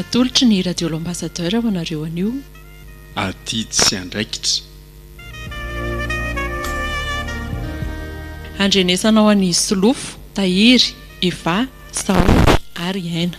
Atolotry ny Radio L'Ambassadeur ho anareo anio. Adidy sy andraikitra. Handrenesanao an'i Solofo, Tahiry, Eva, Sahotra ary Aina.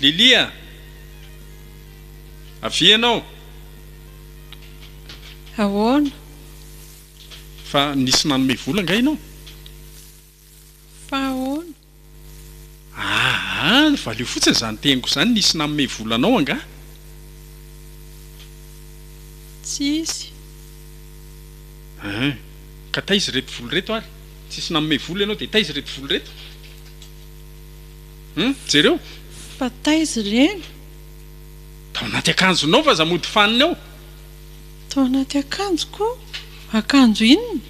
Lily a! Avia ianao. Ahoana? Fa nisy nanome vola angaha ianao? Fa ahoana? Aa! valio fotsiny izany teniko izany, nisy nanome vola anao angaha? Tsisy. Aa! ka taiza ireto vola ireto ary? Tsisy nanome vola ianao dia taiza ireto vola ireto? Hum! jereo. Fa taiza ireny? Tao anaty akanjonao vaza mody fanina ao. Tao anaty akanjoko? Akanjo inona?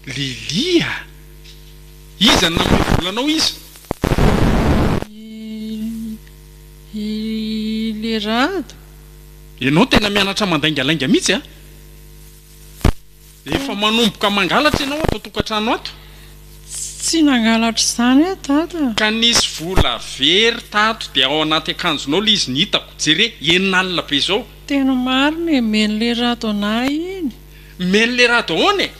Lilia a! Iza no namoy vola anao iza? Lilia, i le Rado. Ianao tena mianatra mandaingalainga mihitsy a! Efa manomboka mangalatra ianao ato an-tokantrano ato. Tsy nangalatra izany aho Dada. Ka nisy vola very tato dia ao anaty akanjonao ilay izy ny hitako, jereo, enina alina be izao. Tena marina e, men'le Rado anah iny. Mellerado ahoana e?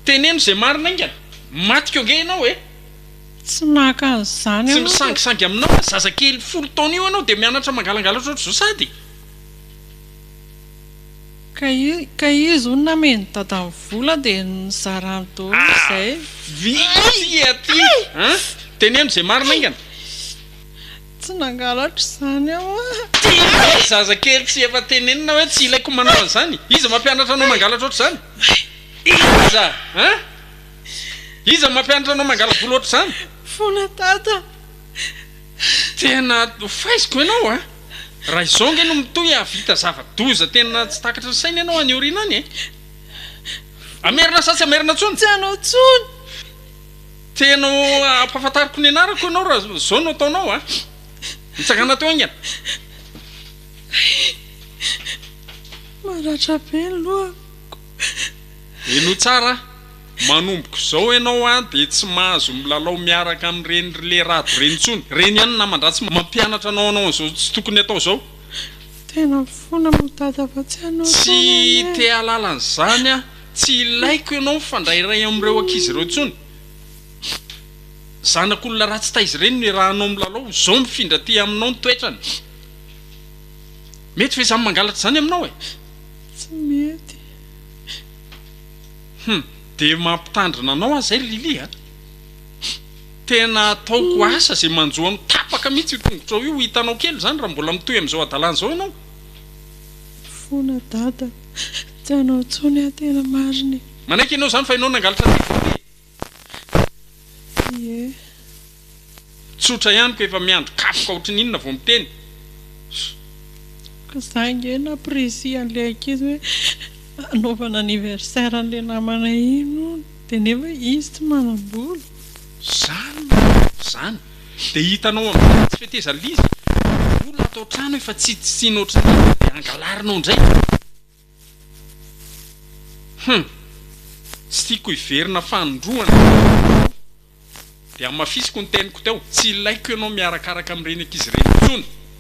Teneno izay marina aingana. Maty ko ange ianao e! Tsy maka an'izany aho. Tsy misangisangy aminao aho, zazakely folo taona io ianao dia mianatra mangalangalatra ohatr'izao sady. Ka izy hono nameno dadany vola dia nizarany daholo izay. Vitsy aty a! Teneno izay marina aingana. Tsy nangalatra izany aho a! Tena hoe ry zazakely tsy efa tenenina hoe tsy ilaiko manao an'izany? Iza mampianatra anao mangalatra ohatr'izany? Iza an! Iza mampianatra anao mangala-volo ohatr'izany? Fona Tata! Tena hofaiziko ianao a! Raha izao ange no mitohy hahavita zava-doza tena tsy takatry ny saina ianao any aoriana any e! Hamerina sa tsy hamerina intsony? Tsy hanao intsony! Tena ampahafantariko ny anarako ianao raha izao no ataonao a! Mitsangàna teo haingana. Maratra be ny lohako. Henoy tsara a! Manomboka izao ianao a dia tsy mahazo milalao miaraka amin'ireny ry le rado ireny intsony. Ireny ihany ny naman-dratsy mampianatra anao hanao an'izao tsy tokony atao izao. Tena mifona amin'i Dada fa tsy hanao intsony anie. Tsy te-hahalala an'izany aho. Tsy ilaiko ianao mifandray iray amin'ireo ankizy ireo intsony. Zanak'olona ratsy taiza ireny no iarahanao milalao? Izao mifindra aty aminao ny toetrany. Mety ve izany mangalatra izany aminao e? Tsy mety. Hum, dia mampitandrina anao aho izay ry Lily a! Tena ataoko asa izay manjo anao tapaka mihitsy io tongotrao io hitanao kely izany raha mbola mitohy amin'izao hadalana izao ianao. Fona dada. Tsy hanao intsony aho tena marina e. Manaiky ianao izany fa ianao nangalatra anay koa ve? Tsia e. Tsotra ihany ko efa miandry kapoka ohatrin'ny inona vao miteny. Ka za nge nampirisiha an'le ankizy hoe anaovana anniversaire an'le namanay iny hono de nefa izy tsy manam-bola. Zany marina zany. Dia hitanao amin'izay fa tsy fetezan'ilay izy, ny olona ato an-trano efa tsy tiana ohatran'izany fa dia angalarinao indray. Hum. Tsy tiako hiverina fanindroany ny fiainako dia hamafisiko ny teniko teo, tsy ilaiko ianao miarakaraka amin'ireny ankizy ireny intsony.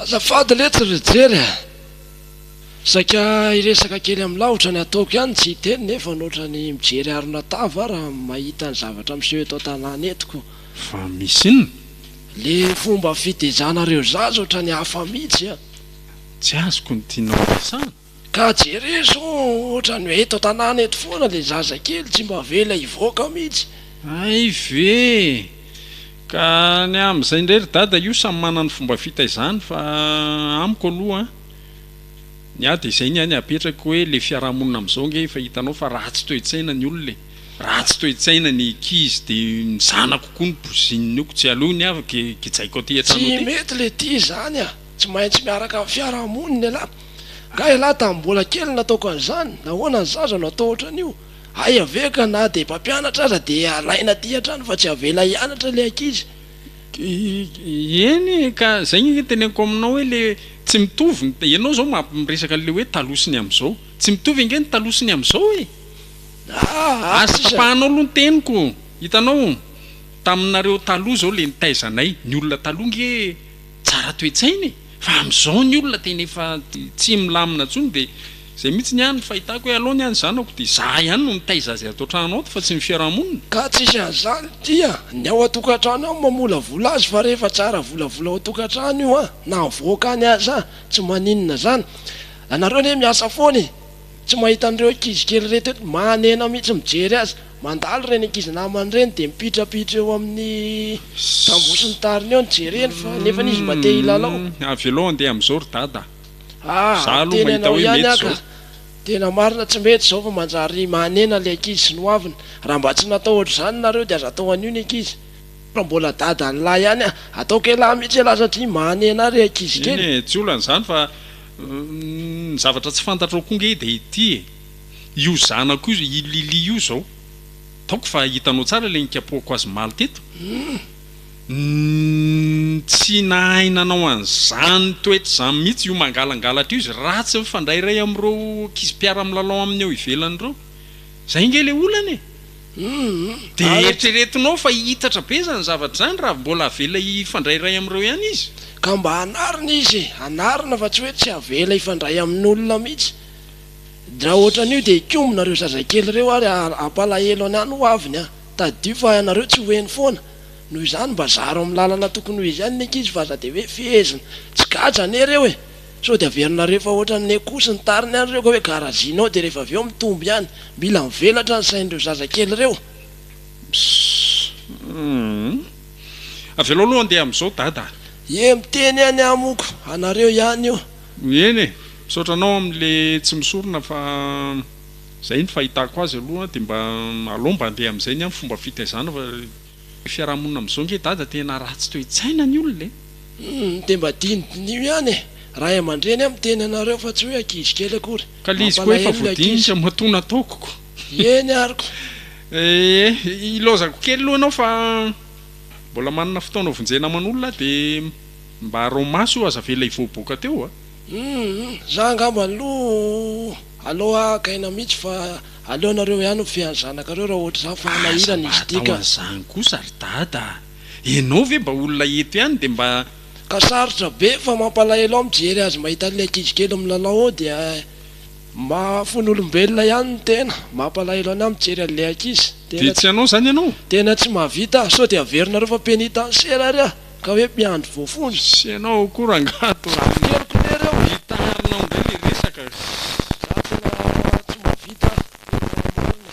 Azafady letsy ry jery a! Saika hiresaka kely amin'ny lavitra ny ataoko ihany tsy hiteny nefa notra ny mijery harona tava aho raha mahita ny zavatra miseho eto an-tanàna eto ko! Fa misy inona? Le fomba fitezanareo zaza otrany hafa mitsy a! Tsy azoko ny tianao horesahana? Ka jereo zao otrany hoe eto tanàna eto foana le zaza kely tsy mba avela hivoaka mitsy. Hay ve e! Ka ny amin izay ndray ry dada io samy manana ny fomba fitaizany fa amiko aloha ny ahy de zay ny ahy ny apetrako hoe le fiarahamonina amin izao nge efa hitanao fa ratsy toetsaina ny olona e! Ratsy toetsaina ny ankizy de ny zanako koa no bozininy io ko tsy aleo ny ahy gejaiko aty an-trano aty. Tsy mety le tia zany a! Tsy maintsy miaraka amin'ny fiarahamonina ialahy. Nga ialahy tamin'ny mbola kely no nataoko an'izany? Nahoana ny zaza no atao ohatran'io? Aia ve ka na dia mpampianatra aza dia alaina aty an-trano fa tsy avela hianatra ilay ankizy? Eny ka, izay ny teneniko aminao hoe ilay tsy mitovy ny, ianao izao miresaka an'ilay hoe taloha sy ny amin'izao. Tsy mitovy ange ny taloha sy ny amin'izao e! Aza tapahanao aloha ny teniko, hitanao, taminareo taloha izao ilay nitaizanay, ny olona taloha nge, Tsara toetsaina e! Fa amizao ny olona tena efa tsy milamina tsony de zay mitsy ny ahy no fahitako hoe aleo ny ahy ny zanako de za ihany no mitaiza azy ato trano ato fa tsy ny fiarahamonina. Ka tsisy azany tia ny ao atokatrano ao mamolavola azy fa rehefa tsy ara-volavola ao tokatrano io an! na avoaka any aza tsy maninona zany! anareo anie miasa foana e! Tsy mahita an'ireo ankizy kely ireto eto, manena mihitsy mijery azy. Mandalo ireny ankizy namany ireny dia mipitrapitra eo amin'ny tamboho sy ny tariny eo ny jereny fa nefany izy mba te hilalao. Avelao handeha amin'izao ry Dada a! Ah, Izaho aloha miteny mahita anao hoe ihany mety aho ka! izao. Tena marina tsy mety izao fa manjary manena ilay ankizy sy ny hoaviny. Raha mba tsy natao ohatr'izany nareo dia aza atao an'io ny ankizy. Fa mbola Dadan'lah ihany a! Ataoko elah mihitsy elah satria manena ahy ry ankizy Eny kely. e, tsy olana izany fa. Ny zavatra tsy fantatrao koa nge dia ity e! Io zanako io, i Lily io izao, taoko fa hitanao tsara ilay nikapohako azy omaly teto? Tsy nahay nanao an'izany toetra izany mihitsy io mangalangalatra io izy, ratsy mifandray iray amin'ireo ankizy mpiara-milalao aminy eo ivelany ireo. Izay nge ilay olana e! Dia eritreretinao fa hihitatra be izany zavatra izany raha mbola avela hifandray iray amin'ireo ihany izy? Ka mba anarina izy e! Anarina fa tsy hoe tsy avela hifandray amin'olona mihitsy. Raha ohatran'io dia hikombona ireo zazakely ireo ary hampalahelo ny any ho aviny an! Tadidio fa ianareo tsy ho heno foana. Noho izany mba zaro amin'ny lalana tokony ho izy ihany ny ankizy fa aza dia hoe fehezina. Tsy gadra anie ireo e! Sao dia averinareo fa ohatran'ny nekoso ny tariny any ireo ka hoe garazinao dia rehefa avy eo mitombo ihany. Mila mivelatra ny sain'ireo zazakely ireo. Msssmm. Avelao aloha handeha amin'izao Dada a. Ye miteny ihany aho moa ko anareo ihany io. Eny e, misaotra anao amin'le tsy misorona fa zay ny fahitako azy aloha dia mba alao mba andeha amin'izay ny amin'ny fomba fitaizana fa. Ny fiarahamonina amin'izao nge dada tena ratsy toe-tsaina ny olona e! Humm dia mba dinidiniho ihany e! Ray aman-dreny a miteny anareo fa tsy hoe ankizy kely akory! Ka le izy koa efa voadinika matoa nataoko ko! Eny ary ko! Eeh ilaozako kely aloha ianao fa mbola manana fotoana hovonjena aman'olona dia mba araho maso io aza avela hivoaboaka teo a! Humm za angamba aloha aloha gaina mitsy fa aleonareo ihany mifehy ny zanakareo raha ohatra izany fa manahirana izy ity ka. Aza mba atao an'izany kosa ry dada a! Ianao ve mba olona eto ihany dia mba. Ka sarotra be fa mampalahelo aho mijery azy mahita an'ilay ankizy kely milalao ao dia mahafono olombelona ihany ny tena, mampalahelo an'ahy mijery an'ilay ankizy, Dia tena tsy hanao izany ianao? tena tsy mahavita, sao dia averinareo fa penitanciera ary aho. Ka hoe mpiandry voafonja. Sy ianao koa rangaha to raha ny. Hery ko lery eo. Hitaharinao indray le resaka eh. Za tena tsy mahavita tena marina.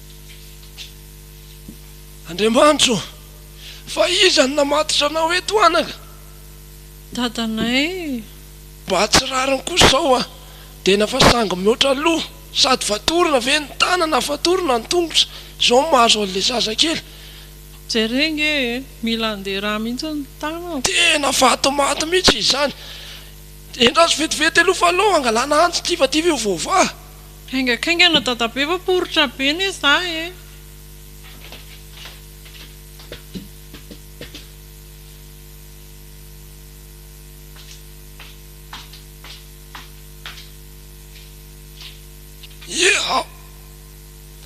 Andriamanitra ô! Fa iza no namatotra anao eto anaka? Dadanay e! Mba tsy rariny kosa izao a! Dena fa sangy mihoatra loha! Sady fatorana ve ny tanana fatorana ny tongotra izao no mahazo an'ilay zazakely? Jereo nge e! Mila andeha rà mihitsy ny tanana! Tena vatomaty mihitsy izany! Endraso vetivety aloha fa aleo angalana antsy ity fa ity ve ho voavaha? Haingankaingana dadabe fa poritra be anie za e. Iiaa!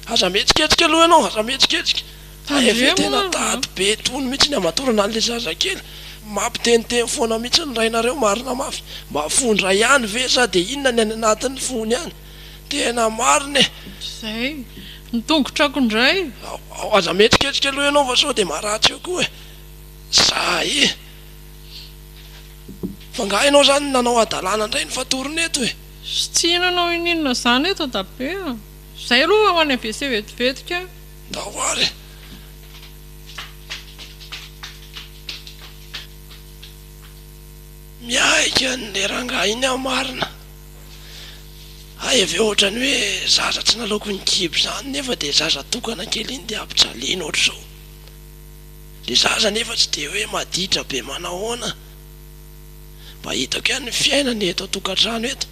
Aza mihetsiketsika aloha ianao, aza mihetsiketsika. Hay ve tena tady be tony mihitsy ny hamatorana anle zazakely? Mampiteniteny foana mihitsy ny rainareo marina mafy, mba fondra ihany ve sa dia inona ny any anatin'ny fony any? Tena marina e! Izay! Ny tongotrako indray! Ao, aza mihetsiketsika aloha ianao fa sao dia maratsy eo koa e! Za e! Fa nga ianao zany nanao hadalana indray ny fatorony eto e! Sy tsy inona no ininona zany eto dabe a! Izay aloha ho any WC vetivetika! Ndao ary e! Miaiky an'le rangahy iny aho marina, hay avy eo otrany hoe zaza tsy nalaoko ny kibo zany nefa de zaza tokana kely iny de ampijaliana otrzao, le zaza nefa tsy de hoe maditra be manahoana, mba hitako ihany ny fiainana eto an-tokantrano eto,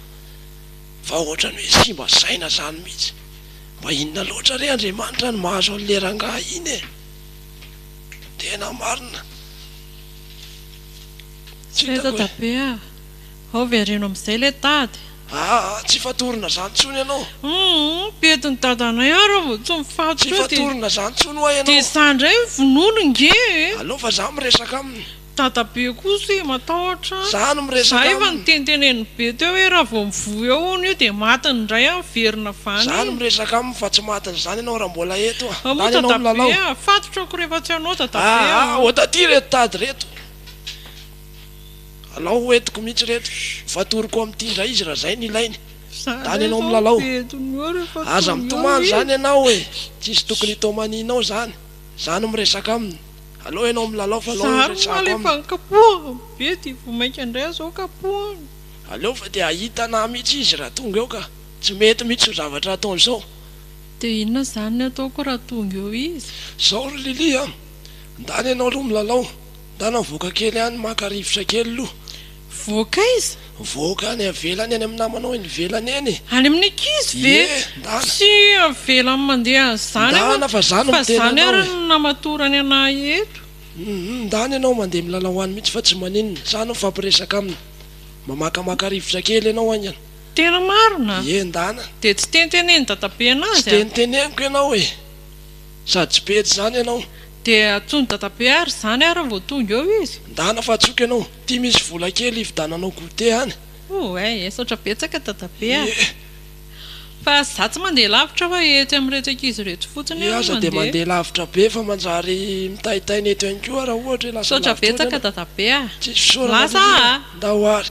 Fa ohatrany hoe simba saina zany mihitsy. Mba inona loatra re Andriamanitra no mahazo an'le rangahy iny e! Tena marina. Tsy Tsy fahita hitako hoe. dabe a! Ao vereno amin'izay le tady. Aa tsy fatorina zany tsony ianao. Humm mpietiny dadanay ary aho vao tsy mifatotra Tsy eo dia fatorina zany tsony hoa ianao. Dia za ndray vonono nge e! Aleo fa za miresaka aminy. Dadabe kosa e matahotra an! Za no miresaka aminy! Za efa niteniteneniny be teo hoe raha vao mivoha eo hono io dia matiny indray an! Miverina vany! Za no miresaka aminy fa tsy matiny izany ianao raha mbola eto an! Moa dadabe a! Fatotra ako rehefa tsy anao dadabe a! Aa! Ota aty ireto tady ireto! Alao ho entiko mihitsy ireto! Fatoriko amin'ity indray izy raha izay no ilainy! Dany ianao milalao! Aza mitomany izany ianao e! Tsisy tokony hitomanianao izany! Za no miresaka aminy! Aleo ianao milalao fa aleo iresaako aminy. Zary omaly efa nikapohako be dia vao mainka indray izao kapohina. Aleo fa dia hahita anah mihitsy izy raha tonga eo ka. Tsy mety mihitsy io zavatra ataony izao. Dia inona izany ny ataoko raha tonga eo izy? Izao ry Lily a! Ndana ianao aloha milalao, ndana mivoaka kely any maka rivotra kely aloha. Voaka aiza? Voaka any avelany any amin'ny namanao eny ivelany eny. Any amin'ny ankizy ve? Ie, ndana. Tsy avelany mandeha an'izany aho Ndana fa za no fa miteny zany anao ary e. no namatorany an'ahy eto. Hum ndana ianao mandeha milalao any mihitsy fa tsy maninona, za no mifampiresaka aminy. Mamakamaka rivotra kely ianao haingana. Tena marina? Ie ndana. Dia tsy tentenenin'i dadabe anazy a? Tsy tenteneniko ianao e. Sady tsy pety izany ianao. Dia antsoin'i dadabe ary izany ary vao tonga eo izy? Ndana fa antsoiko ianao. Ty misy vola kely ivda nanao goûter any. Ouaih esotra betsaka dadabe ah. Fa za tsy mandeha lavitra fa etsy amin'ireto ankizy ireto fotsiny aho no mandeha. Iza dia mandeha lavitra be fa manjary mitaitaina eto ihany koa raha ohatra hoe lasa lavitra ohatra ianao. Misaotra betsaka dadabe ah. Lasa ah. Ndao ary.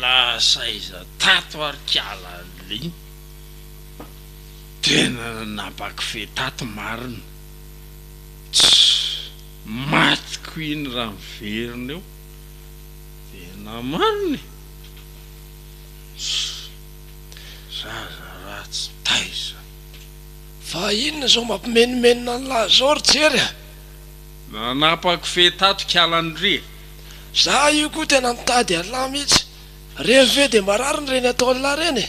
Lasa aiza tato ary kiala lin? Tena nampakofehy tato marina. Tchou! Maty ko iny raha miverina eo. Tena marina e! Tchou! Zaza ratsy taiza. Fa inona izao mampimenomenona an'lah zao ry Jery a! Nanapako fe tato kialany re. Za io koa tena nitady an'lah mihitsy. Revy ve dia mba rariny ireny ataon'lah ireny e?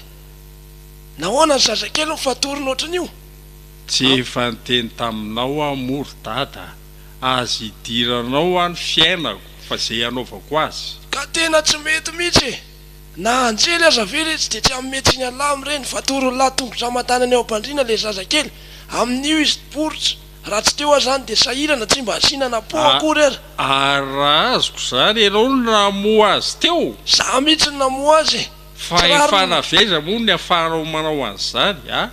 Nahoana ny zazakely mifatorona ohatran'io? Tsy efa niteny taminao aho moa ry dada a, aza idiranao aho ny fiainako fa izay hanaovako azy. Ka tena tsy mety mihitsy e! Na anjely aza ve re tsy dia tsy hanome tsiny an'lah amin'ireny? Fatoron'lah tongotra aman-tanany eo am-pandriana ilay zazakely, amin'io izy tporitra. Raha tsy teo aza any dia sahirana tsy mba asiana na pot akory ary. Ary raha azoko izany ianao no namoha azy teo? Izaho mihitsy no namoha azy e! Tsy rariny. Fahefana avy aiza moa ny afahanao manao an'izany a!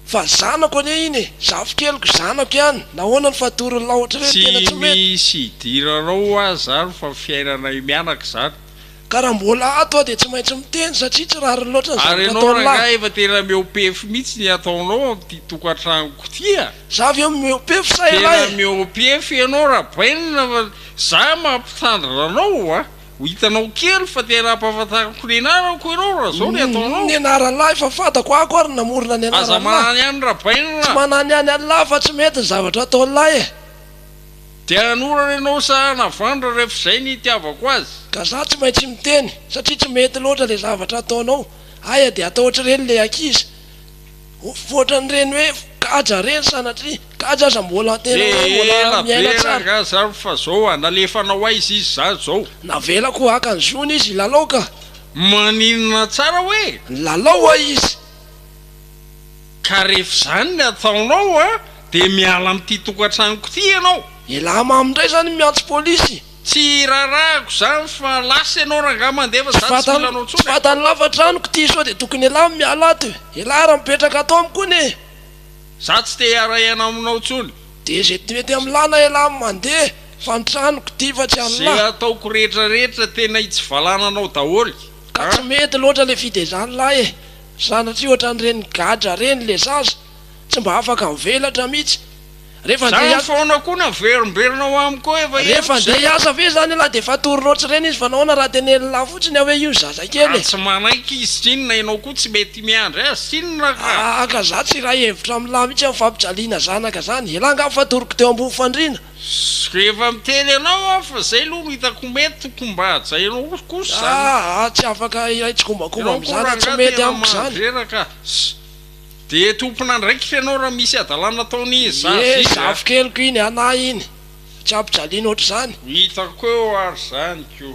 Fa zanako anie iny e! Zafikeliko, zanako ihany! Nahoana no fatorony laotra ireny? Tena tsy mety! Tsy misy idiranao aza ary fa fiainanay mianaka izany. Ka raha mbola ato aho dia tsy maintsy miteny satria tsy rariny loatra ny zavatra ataon'lah. Ary ianao rangahy efa tena mihoa-pefy mihitsy ny ataonao amin'ity tokantranoko ity a! Za ve mihoa-pefy sa elah e? Tena mihoa-pefy ianao Rabainina fa za mampitandrina anao a! Ho hitanao kely fa tena ampahafantariko ny anarako ianao raha zao ny ataonao. Ny anaran'lah efa fantako ako ary namorona ny anaran'lah. Aza mananihany Rabainina a! Tsy mananihany an'lah fa tsy mety ny zavatra ataon'lah e! Dia nanorana ianao sa navandra rehefa izay ny itiavako azy? Ka za tsy maintsy miteny satria tsy mety loatra le zavatra ataonao, aya de atao otr'ireny le ankizy otr'an'ireny hoe kaja reny sanatria kaja aza mbola tena hoe mbola miaina tsara. Ela be rangah zany fa zao a, nalefanao aiza izy zany zao? Navelako haka ny zony izy hilalao ka. Maninona tsara hoe? Nilalao ho'a izy. Ka rehefa izany ny ataonao an, dia miala amin'ity tokantranoko ity ianao. Elah mamy ndray zany miantso polisy. Tsy rarahako zany fa lasa ianao rangah mandeha fa za tsy mila anao tsony e. Tsy fantany lafatra amiko ity sao dia tokony elah miala ato e. Elah ary mipetraka ato amiko anie e. Za tsy te hiara hiaina aminao tsony. Dia ze mety amilana elah mandeha fa ny tranoko ity fa tsy anlah. Ze ataoko rehetra rehetra tena hitsivalana anao daholo an. Ka tsy mety loatra le fitezanlah e. Sanatria ohatran'ireny gadra reny le zaza, tsy mba afaka mivelatra mitsy. Refa ndeha hiasa. Zany foana koa naverimberina ho amiko ao efa eo. Refa ndeha hiasa ve zany ialahy de efa tory rotsy reny izy fa nahoana raha tenen'lah fotsiny aho hoe io zaza kely e. Ka tsy manaiky izy tsy inona enao koa tsy mety miandry azy tsy inona ka. Ahh ka za tsy hiray hevitra amin'lah mitsy am fampijaliana zanaka zany, elah ngah fa toriko teo ambony fandriana. Sy rehefa miteny anao aho fa zay aloha no hitako mety tokony mba hajainao kosa zany. Aa tsy afaka hiray tsikombakomba amizany tsy mety amiko zany. Ye zafikely ko iny a na iny a. Dia tompon'andraikitra ianao raha misy hadalana ataon'i zaza izy a. Ye zafikely ko iny a na iny. Tsy ampijaliana ohatr'izany. Hitako eo ary zany ko.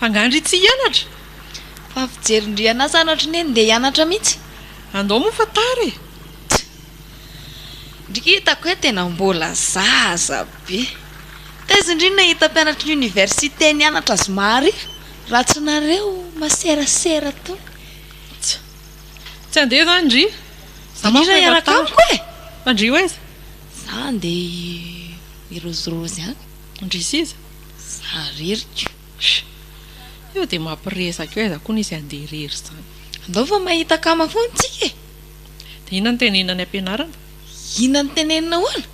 Angaha ndry tsy hianatra? Fa fijery ndry anah zanatry neny ndeha hianatra mihitsy. Andao moa fa tara e! Tch! Ndry hitako hoe tena mbola zaza be. Taiza ndry ny nahita mpianatry ny université nianatra zomarivo raha tsy nareo maserasera tao? Tch! Tsy andeha izany ndry! Za manko efa tara. Ndry hiaraka amiko e! Fa ndry ho aiza? Za ndeha hirozirozy any. Ndry s'iza? Za irery ko. Io dia mampiresaka io aiza koa no izy handeha irery izany. Andao fa mahita akama foana tsika e! Dia inona no tenenina any ampianarana? Inona no tenenina ahoana?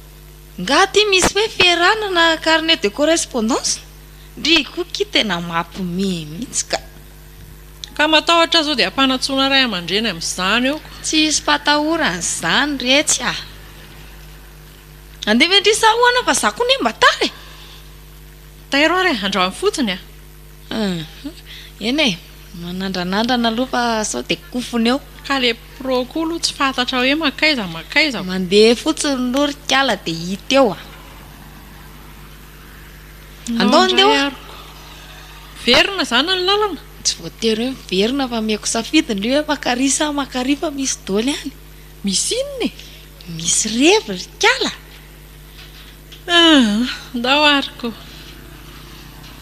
Nga aty misy hoe fierana na carnet de correspondance? Ndry koa ki tena mapimehy mihitsy ka. Ka matahotra zao dia ampanatsoina ray aman-dreny amin'izany aho ko. Tsy hisy fatahorana izany retsy ah. Andevo an-dry Saho ana fa za koa anie mba tara e! Tairo ary e, andrahoy fotsiny a! Ahh, eny e, manandranandrana aloha fa sao dia kofona eo. Ka le pro koa aloha tsy fantatra hoe mankaiza mankaiza. Mandeha fotsiny aloha ry kala dia hita eo a! Andao andeha oa! Miverina izany ny lalana? Tsy voatery hoe miverina fa ameko safidy ny hoe makary sa makary fa misy doly any. Misy inona e? Misy revy ry kala! Aah! Ndao ary ko!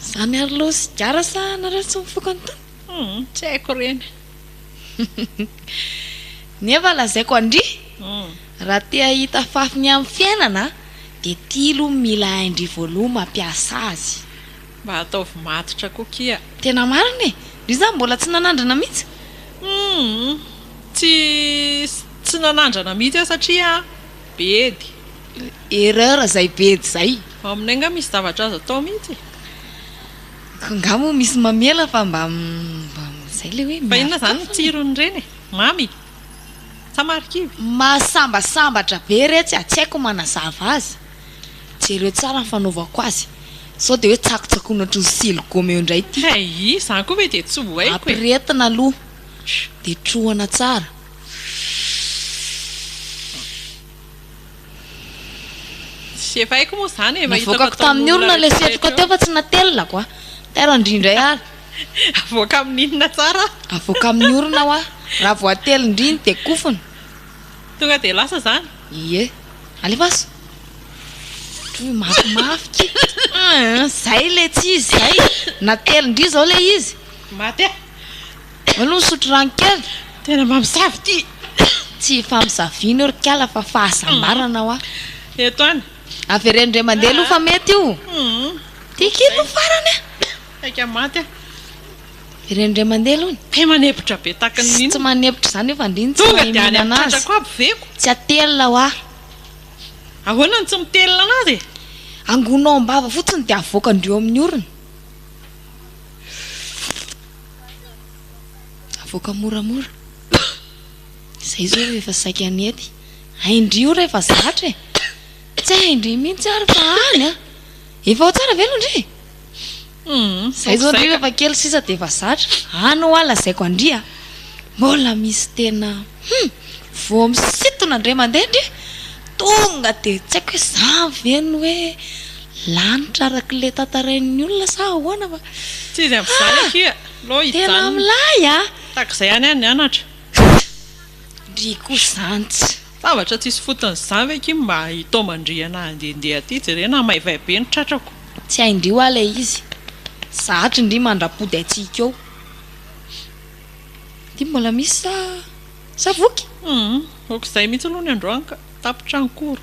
Za miaro loha sigara sa nareo tsy mifoka ny tany? Hum! Tsy haiko ireny! Nefa lazaiko andry! Raha te hahita fafiny amin'ny fiainana dia ity loha mila hain-dry voaloha mampiasa azy! Mba ataovy matotra koa kia. Tena marina e! Ry za mbola tsy nanandrana mihitsy. Humm tsy tsy nanandrana mihitsy aho satria bedy. Erreur zay bedy zay. Aminay nga misy zavatra azo atao mihitsy e. Ko nga moa misy mamela fa mba mba zay le hoe. Fa inona zany ny tsiron'ireny e? Mamy? Sa marikivy? Mahasambasambatra be retsy a, tsy haiko manazava azy. Jereo tsara ny fanaovako azy sao dia hoe tsakotsakoina ohatry ny siligoma eo indray ity. Hay, izany koa ve dia tsy ho haiko e! Ampirehetina aloha dia trohana tsara. Tsy efa haiko moa izany e, efa hitako ataon'olona rehetra rehetra. Navoakako tamin'ny orona ilay setroka teo fa tsy natelinako a! Tera ndry indray ary. Avoaka amin'ny inona tsara? Avoaka amin'ny orona hoa, raha vao atelin-dry iny dia kofona. Tonga dia lasa izany? Ie. Alefaso! Ohatran'ny hoe mafimafy ty. Aah, izay ilay tsy izy izay. Na telo indry izao ilay izy. Maty aho. Aleo misotro rano kely. Tena mamosavy ity. Tsy famosaviana io ry kala fa fahasambarana hoa. Eto an. Avereno indray mandeha aloha fa mety io. Ty kely no farany an. Saika maty aho. Ireny indray mandeha aloha ny. Te manebotra be tahaka ny inona. Tsy manebotra izany io fa ndry ny tsy mahay mihinana azy. Tonga dia any amin'ny tratrako aby veko. Tsy atelina hoa. Ahoana no tsy mitelina an'azy e? Angonao am-bava fotsiny dia avoaka ndry eo amin'ny orona. Avoaka moramora. Izay izy hoe efa saika hanety. Hay ndry io rehefa zatra e. Tsy hay ndry mihitsy ary fa any a. Efa ao tsara ve aloha ndry e? Humm zay zao ndry refa kely sisa de efa zatra any hoa lazaiko andry a! Mbola misy tena humm vao misintona ndray mandeha ndry tonga de tsy haiko hoe zany ve ny hoe lanitra araka le tantarain'ny olona sa ahoana fa Tsy izy avy zany akia alou hijanona. Tena milay a! Tahaka izay ihany aho nianatra. Ndry koa zany tsy. Zavatra tsisy fotony izany ve akia mba i Taomandriana handehandeha aty, jerena an, maivay be ny tratrako. Tsy hain-dry hoa ilay izy. Zahatry ndry mandra-pody antsika eo. Dia mbola misy sa zavoky? Humm, aok'izay mihitsy aloha ny androany ka, tapitra ny koro.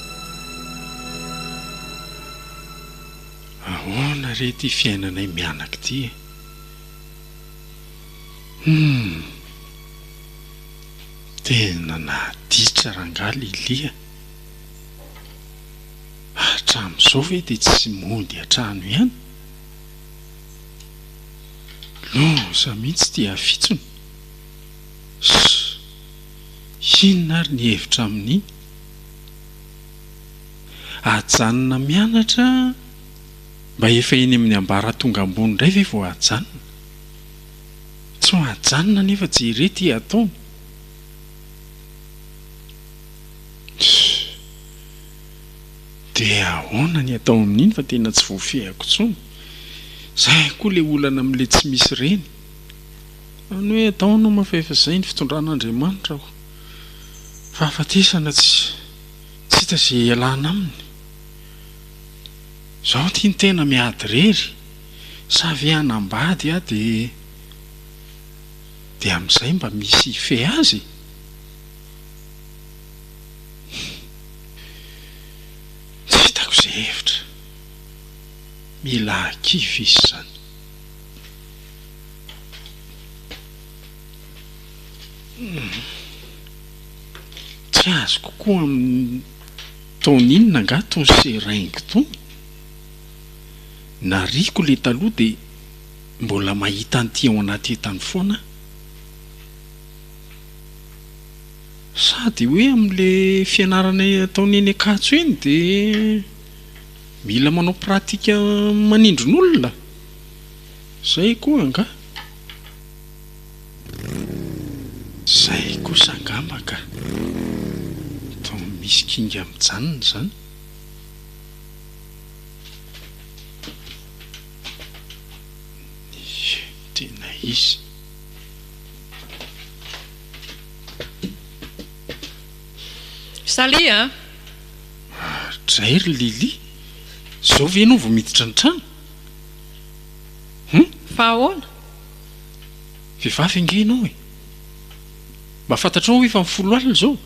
Ahoana re ity fiainanay mianaka ity e! Humm! Tena nahatitra rangahy Lily a! Hatramin'izao ve dia tsy mody an-trano ihany? Loza mihitsy ity hafitsony! Ss! Inona ary ny hevitra amin'iny? Ajanona mianatra? Mba efa eny amin'ny ambaratonga ambony indray ve vao ajanona? Tsy ho ajanona anefa jereo ity ataony. Dia ahoana ny atao amin'iny fa tena tsy voafehiko intsony. Izay koa ilay olana amin'ilay tsy misy reny. Fa ny hoe ataonao moa fa efa izay ny fitondran'Andriamanitra hoy. Fahafatesana tsy tsy hita izay hialana aminy. Izaho ity ny tena miady irery, sa ve hanambady aho dia dia amin'izay mba misy hifehy azy e? Tsy hitako izay hevitra. Mila kivy izy izany. Tsy azoko koa amin'ny taona inona nga tony seringue tony, nariako le taloha de mbola mahita an'ity ao anaty entany foana aho, sa de hoe amle fianarana ataony eny Ankatso eny de mila manao pratique manindron'olona? Zay koa angaha. Zay kosa angamba ka! Vao misy kinga mijanona zany. Ie tena izy. Salut an! Mahadray ry Lily! Zao ve ianao vao miditra ny trano? Hum? Fa ahoana? Vehivavy ange ianao e! Mba fantatrao ve fa mifolo alina izao?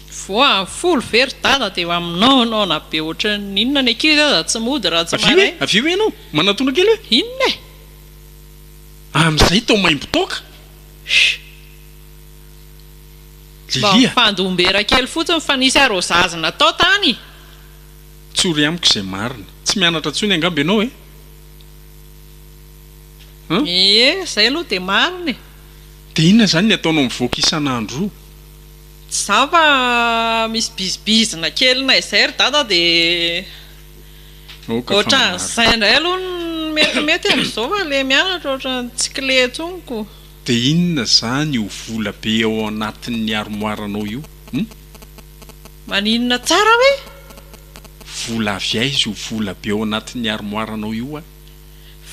Voa amin'ny folo ve ry dada dia efa minaonaona be ohatran'ny inona ny ankizy aza tsy mody raha tsy maraina. Avia hoe ianao manatona kely hoe. Inona e? Amin'izay tao maimbo toaka. Shh. Mba mifandombera kely fotsiny fa nisy arrosage natao tany. Tsory amiko izay marina. Tsy mianatra intsony angamba ianao e? Ie, izay aloha dia marina e! Dia inona izany ny ataonao mivoaka isan'andro? Tsy za fa misy bizibizina kely na izay ry dada dia ohatran'izay indray aloha no metimety amin'izao fa ilay mianatra ohatran'ny tsy kle intsony ko. Dia inona izany io vola be ao anatin'ny armoire-nao io hum? Maninona tsara hoe? Vola avy aiza io vola be ao anatin'ny armoire-nao io a?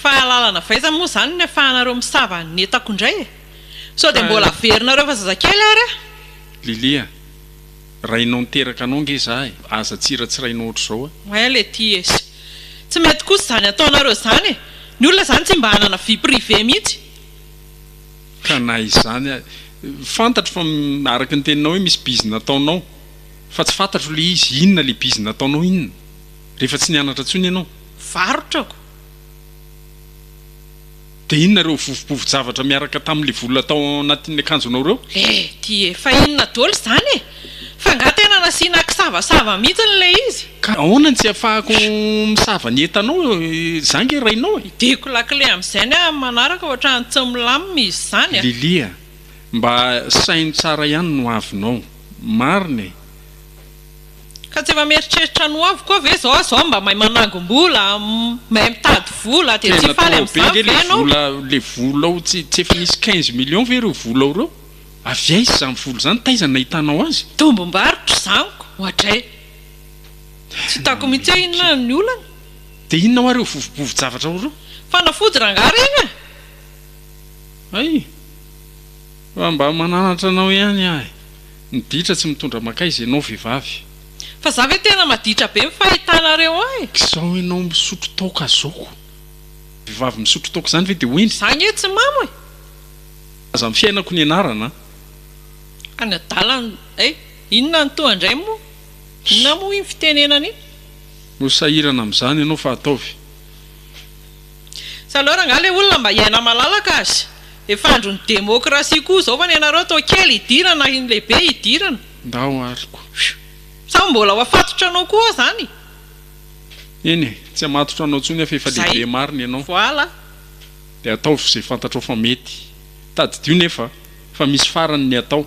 Fahalalana vaiza moa izany ny afahanareo misava an'ny entako indray e! Sao dia mbola averinareo fa zazakely ary aho? Lilia, rainao niteraka anao ange izaho e! Aza tsiratsirainao ohatr'izao e! Oay Letty e! Tsy mety kosa izany ataonareo izany e! Ny olona izany tsy mba hanana vie privée mihitsy! Ka na izany ary, fantatro fa araka ny teninao hoe misy bizina ataonao, fa tsy fantatro ilay izy, inona ilay bizina ataonao inona? Rehefa tsy nianatra intsony ianao. Varotrako. Dia inona ireo vovo-bovo-javatra miaraka tamin'ilay vola tao anatin'ny akanjonao ireo? Eh! Dia efa inona dôly izany e! Fa angaha tena nasiana kisavasava mihitsiny ilay izy? Ka ahoana ny tsy ahafahako misava ny entanao izaho ange rainao e! Hidiako lakile amin'izay ny amin'ny manaraka hoatran'ny tsy milamina izy izany a! Lily a! Mba saino tsara ihany ny hoavinao. Marina e! Ka tsy efa mieritreritra ny ho avy koa ve zao zao mba mahay manangom-bola, mahay mitady vola dia tsy faly amin'izany ve ianao? Tena trop be nge le vola, le vola ao tsy tsy efa nisy quinze millions ve ireo vola ao ireo? Avy aiza izany vola izany, taiza nahitanao azy? Tombom-barotra izany ko oadray. Tsy hitako mihitsy hoe inona ny olana. Dia inona hoa ireo vovo-bovo-javatra ao ireo? Fanafody rangahy ireny e! Hay! Fa mba mananatra anao ihany ahy. Ny ditra tsy mitondra makaiza ianao vehivavy. Fa za ve tena maditra be ny fahitanareo ahy. K'izao ianao misotro toaka zao. Vehivavy misotro toaka izany ve dia ho iny. Za ange tsy mamo e. Aza ny fiainako nianarana. Any adalany eh. Inona ny toa indray moa. Inona moa iny fitenenana iny. No sahirana amin'izany ianao fa ataovy. Sa alors angaha le olona mba hiaina malalaka aza? Efa andron'ny demokrasia koa izao fa ny anareo atao kely hidirana ny lehibe hidirana. Ndao ary ko. Sa mbola ho afatotra anao koa zany? Eny e, tsy hamatotra anao intsony aho fa efa lehibe marina ianao. Voilà. Dia ataovy izay fantatrao fa mety. Tadidio nefa fa misy farany ny atao.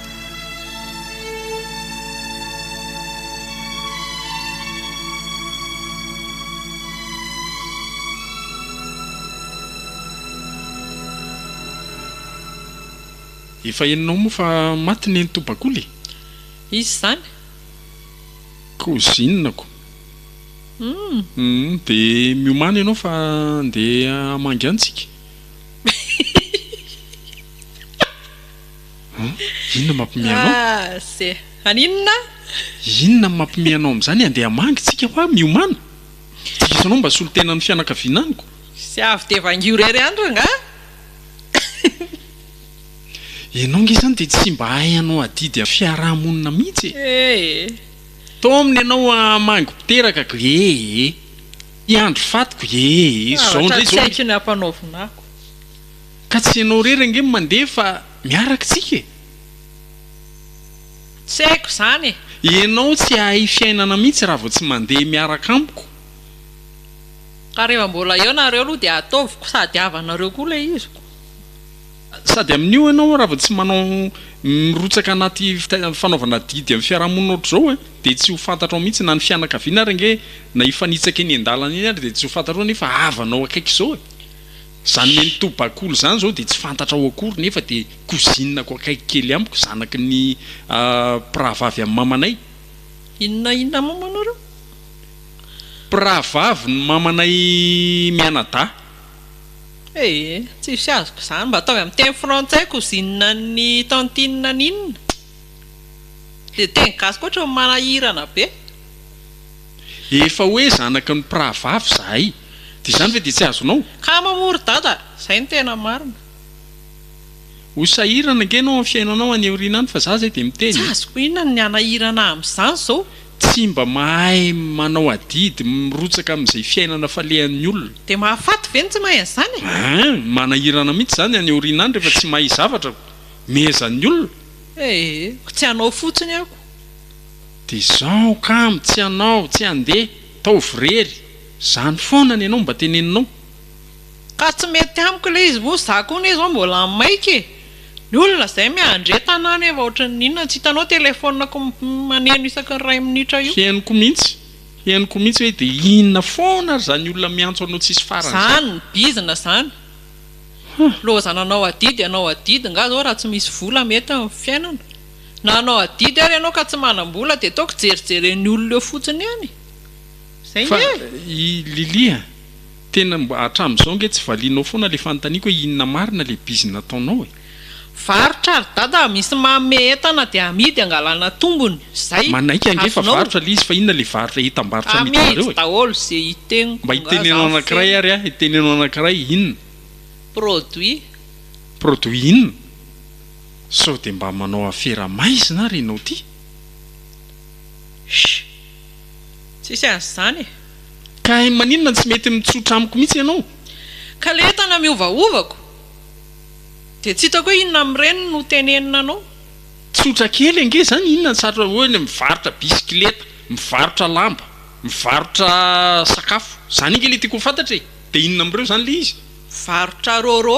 Efa henonao moa fa maty nenitoa bakoly e! Iza izany? Cousine ko. Humm de miomana ianao fa andeha hamangy any tsika. Inona mampime anao? Ah ze, an inona? Inona no mampime anao amin'izany? Andeha hamangy tsika hoa miomana. Diso anao mba solontenan'ny fianakaviana amiko. Ze avy dia vangio irery any rangahy. Ianao ange izany dia tsy mba hay hanao adidy amin'ny fiaraha-monina mihitsy e. Ee. Tao aminy ianao hamangy ho teraka ko ee. Hiandry faty ko ee. Zavatra tsy haiko ny hampanaovina ko. Ka tsy ianao irery ange no mandeha fa miaraka tsika e! Tsy haiko izany e! Ianao tsy hahay fiainana mihitsy raha vao tsy mandeha miaraka amiko. Ka rehefa mbola eo nareo aloha dia ataoviko sady havanareo koa ilay izy. Sady amin'io ianao raha vao tsy manao mirotsaka anaty fanaovana adidy amin'ny fiarahamonina ohatr'izao e! Dia tsy ho fantatrao mihitsy na ny fianakaviana ary ange na hifanitsaka eny an-dalana eny ary dia tsy ho fantatrao nefa havanao akaiky izao e! Izany Mentou Bakoly izany izao dia tsy fantatrao akory nefa dia cousine-ko akaiky kely amiko, zanaky ny mpirahavavy an'i mamanay. Inona inona moa moa nareo? Mpirahavaviny mamanay mianadahy. Ee, tsisy azoko izany, mba ataovy amin'ny teny frantsay cousine an'ny tantine an'inona? Ilay teny gasy koa ohatran'ny manahirana be. Efa hoe zanaky ny mpirahavavy zahay dia izany ve dia tsy azonao? Kamo moa ry dada, izay no tena marina. Ho sahirana ange ianao amin'ny fiainanao any aoriana any fa za izay dia miteny e! Tsy azoko inona ny hanahirana ahy amin'izany izao? Tsy mba mahay manao adidy mirotsaka amin'izay fiainana falehan'ny olona. Dia mahafaty ve ny tsy mahay an'izany e? Hein! Manahirana mihitsy izany any aoriana any rehefa tsy mahay zavatra ko! Mehezan'ny olona. Ee, ko tsy anao fotsiny ako. Dia zao kamo tsy hanao tsy handeha taovy irery zany foana ny anao mba teneninao. Ka tsy mety amiko ilay izy moa za koa anie zao mbola maika e! Ny olona zay miandre tanàna efa ohatry ny inona tsy hitanao telefonako maneno isaky ny iray minitra io. Henoko mihitsy, henoko mihitsy hoe dia inona foana ary zany olona miantso anao tsisy farany zany. Zany bizina zany. Lozana anao adidy anao adidy nga zao raha tsy misy vola mety amin'ny fiainana. Na hanao adidy ary ianao ka tsy manam-bola dia toa kijerijeren'ny olona eo fotsiny eny e! Izay nge e! Fa i Lily a! Tena mba hatramin'izao nge tsy valianao foana ilay fanontaniako hoe inona marina ilay bizina ataonao e! Varotra ry dada a! Misy manome entana dia amidy hangalana tombony. Izay! Manaiky ange fa varotra ilay izy fa inona ilay varotra entam-barotra amidinareo e! Amidy daholo izay hitengo. Mba hiteneno anankiray ary aho e! Teneno anankiray inona? Produit. Produit inona? Sao dia mba manao afera maizina ary ianao ity? Shh! Tsisy azy izany e! Ka hay maninona no tsy mety mitsotra amiko mihitsy ianao? Ka ilay entana miovaovako? Dia tsy hitako hoe inona amin'ireny no tenenina anao? Tsotra kely ange izany, inona no sarotra? Ohatra hoe mivarotra bisikileta, mivarotra lamba, mivarotra sakafo. Izany ange ilay tiako ho fantatra e! Dia inona amin'ireo izany ilay izy? Mivarotra rôrô.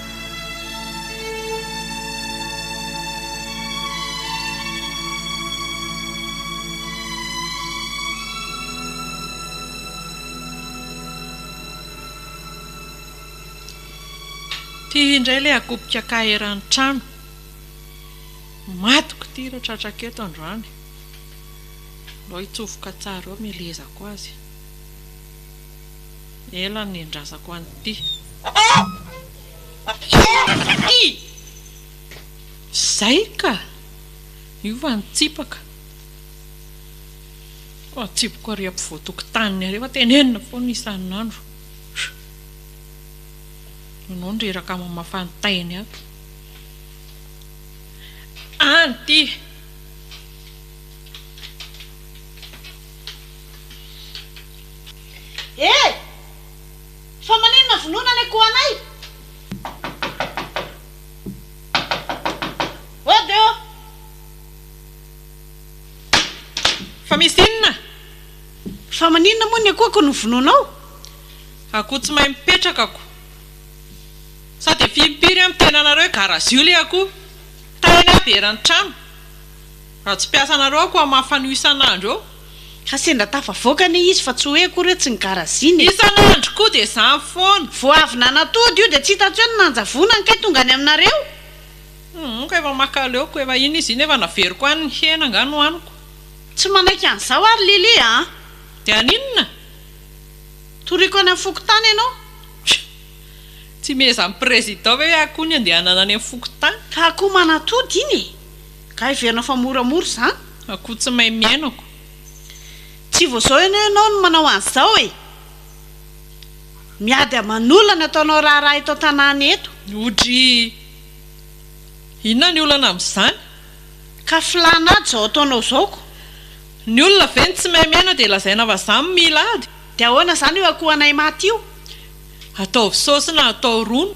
Ty indray ilay akopika kah eran'ny trano. Matiko ity raha tratrako eto androany. Aleo hitsofoka tsara eo amelezako azy. Ela no niendrazako an'ity. Izay ka! Hiova ny tsipaka. Fa ny tsipiko ary ampovoan-tokotaniny ary efa tenenina foana isan'andro. Ianao no reraka mamafa ny tainy ato. Any ity! Eh! Fa maninona vonoina ny akohanay? Oh de oh! Fa misy inona? Fa maninona moa ny akohako no vonoinao? Akoho tsy mahay mipetraka ako. Sao dia fimpiry an miteny anareo gara zio le akoho. Tahina aby eran'ny trano. Raha tsy mpiasanareo aho koa mafana io isan'andro eo. Ka sendra tafavoaka anie izy fa tsy hoe akory hoe tsy nigarazina e. Isan'andro koa dia izany foana. Vao avy nanatody io dia tsy hitantsy hoe ny nanjavonany kay tonga any aminareo. Humm ka efa maka aleoko, efa iny izy iny efa naveriko any ny hena angaha nohaniko. Tsy manaiky an'izao ary Lily a! Dia haninona? Toriako any amin'ny fokontany ianao. Tsy mihezan'ny président ve aho koa ny andehanana any amin'ny fokontany? Ka akoho manatody iny e! Ka heverina fa mora mora izany? Akoho tsy mahay mihaino ko. Tsy vao zao anie ianao no manao an'izao e! Miady aman'olona ny ataonao raharaha eto an-tanàna eto. Odry! Inona ny olana amin'izany? Ka filàna ady izao ataonao izao ko! Ny olona ve no tsy mahay mihaino dia lazaina fa za no mila ady? Dia ahoana izany io akohanay maty io? Ataovy saosy na atao rony.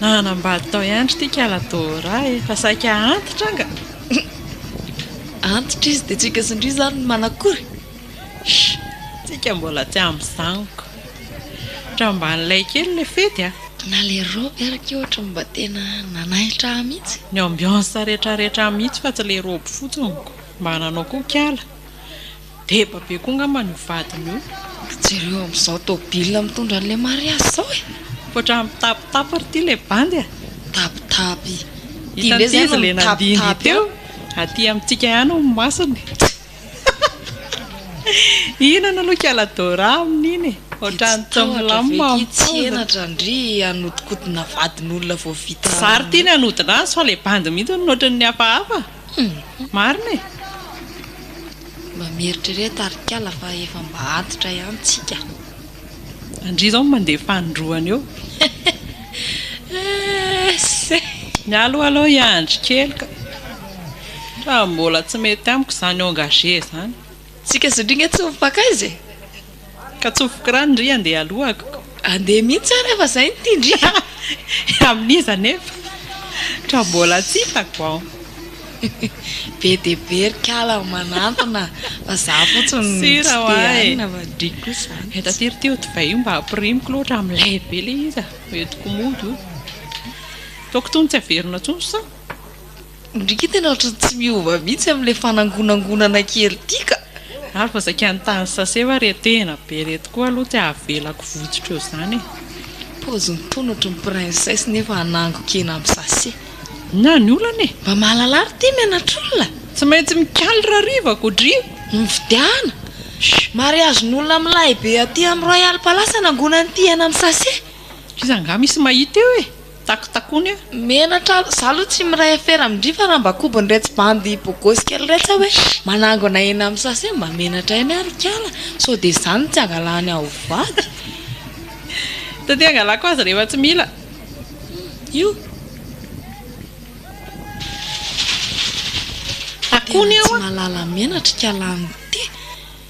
Nanambady tao ihany ry tika la Dora e, fa saika antitra anga. Antitra izy dia tsika sy ndry izany no manakory. Tsika mbola tsy amin'izaniko. Tramban'ilay kely ilay fety a. Na ilay robe ary ky ohatra mba tena nanaitra ahy mihitsy. Ny ambiance rehetra rehetra mihitsy fa tsy ilay robe fotsiny ko. Mba nanao koa kiala. Deba be koa ngamba ny ho vadiny io. Jereo amzao tôbila mitondra anle mariazy zao e! Mipoitra mitapitapy ry ty le bandy a! Mitapitapy! Ty ndray zay no mitapitapy a! Aty amintsika ihany hono masony e! Hihinana aloha kiala Dora amin'iny e! Ohatrany tsy milamina mampaozana! Dia tsy tahotra ve ity tsy henatra ndry hanodikodina vadin'olona vao vita? Zary ty ny hanodina azy fa le bandy mihitsy hono ohatran'ny hafahafa! Humm! Marina e! Mba mieritrereta ry kala fa efa mba antitra ihany tsika. Andria izao no mandeha fanindroany eo. Esse! Mialoha aloha hiandry kely ka. Raha mbola tsy mety amiko izany engagé izany. Tsika zoly nga tsy mipakaiza e! Ka tsofoky rano ndry andeha alohako. Andeha mihitsy ary efa zay ny tiany ndry a! Amin'iza anefa ka mbola tsy hitako an! Be dia be ry kala ny manantona fa za fotsiny no tsy te-hanina fa ndry kosa zany tsy. Taty ry teo divay io mba hampirimiko loatra milay be le izy a! Entiko mody o! Toa kitony tsy averina tsony sao? Ndryy tena ohatran'ny tsy miova mihitsy amin'ilay fanangonangonana kely ity ka! Ary vao zakan'ny tany sase va re tena be reto koa aloha tsy avelako votsotra eo zany e! Paoziny tony ohatry ny princesse nefa hanangon-kena amin'ny sase. Inona ny olana e? Mba mahalala ary ity menatr'olona. Tsy maintsy mikaly rariva ko dry. Mividiana! Mariazin'olona amin'ny lahibe aty amin'ny Royal Palace hanangonany ity hena amin'ny sase. Iza angaha misy mahita eo e? Takotakony io. Menatra aza. Za aloha tsy miray afera amin-dry fa raha mba kobony retsy bandy bogosy kely retsy aho hoe manangona eny amin'ny sase mba menatra eny aho ry kala sao dia izany no tsy angalany aho ho vady. Taty angalako azy rehefa tsy mila. Io. Takony io a. Tena tsy mahalala menatra i kala an'ity.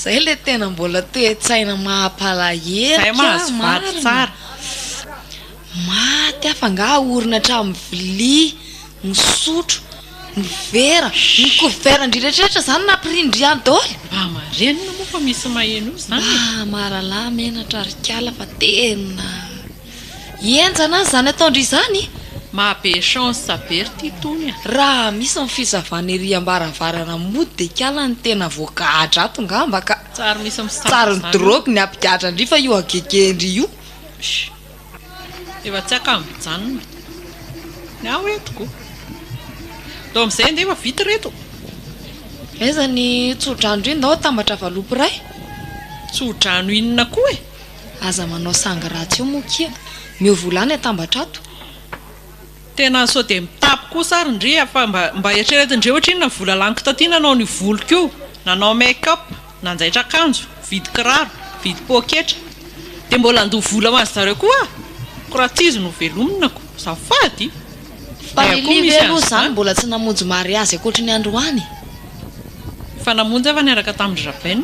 Zay le tena mbola toe-tsaina mahapalahelo Zay mahazo vady tsara Maty aho fa nga aorina hatramin'ny vilia, ny sotro, ny vera, ny couvert ndry rehetrarehetra zany nampirindra ihany daholo? Mba marenina moa fa misy maheno zany e! Mba maralà menatra ry kala fa tena. Hihenjana aza izany ataon-dry izany? Mahabe chance be ry ty tony a! Raha misy ny fisavana ery ambaravarana mody dia kiala ny tena voagadra ato ngamba ka! Tsary misy misava izany io! Tsary ny drogue ny hampigadran-dry fa io hagegehin-dry io! Shh! Efa tsy haka mijanona ny ahy eto ko! Ndao amin'izay andeha efa vita ireto! Aiza ny tso-drano ry ndao atambatra valopy iray? Tso-drano inona koa e? Aza manao sangy ratsy eo moa kia. Miova ho lany atambatra ato. Tena sao dia mitapy kosa ary ndry a! Fa mba eritrereto ndry ohatrinona vola laniko taty nanao an'io voloko io, nanao make up, nanjaitra akanjo, vidy kiraro, vidy poketra. Dia mbola handoa vola ho an'zy zareo koa aho? Ko raha tsy izy no velomina ko! Azafady! Fa ny Live ve aloha izany mbola tsy namonjy mariazy ankoatry ny androany? Efa namonjy aho fa niaraka tamin-dry Rabaina.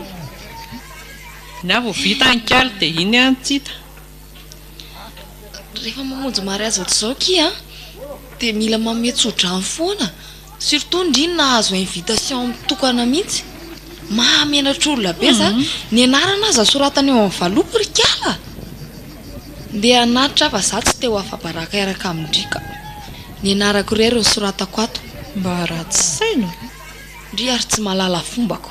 Ny ahy vao vita any kally dia iny any tsita. Rehefa mamonjy mariazy ohatr'izao ki a, dia mila manome tsodrano foana, surtout ndry ny nahazo invitation mitokana mihitsy. Mahamenatra olona be izany. Ny anarana aza soratana eo amin'ny valopy ry kala a! Ndeha hanatitra aho fa izaho tsy te ho afa-baraka hiaraka amin-dry ka! Ny anarako irery no soratako ato. Mba ratsy saina! Ndry ary tsy mahalala fombako.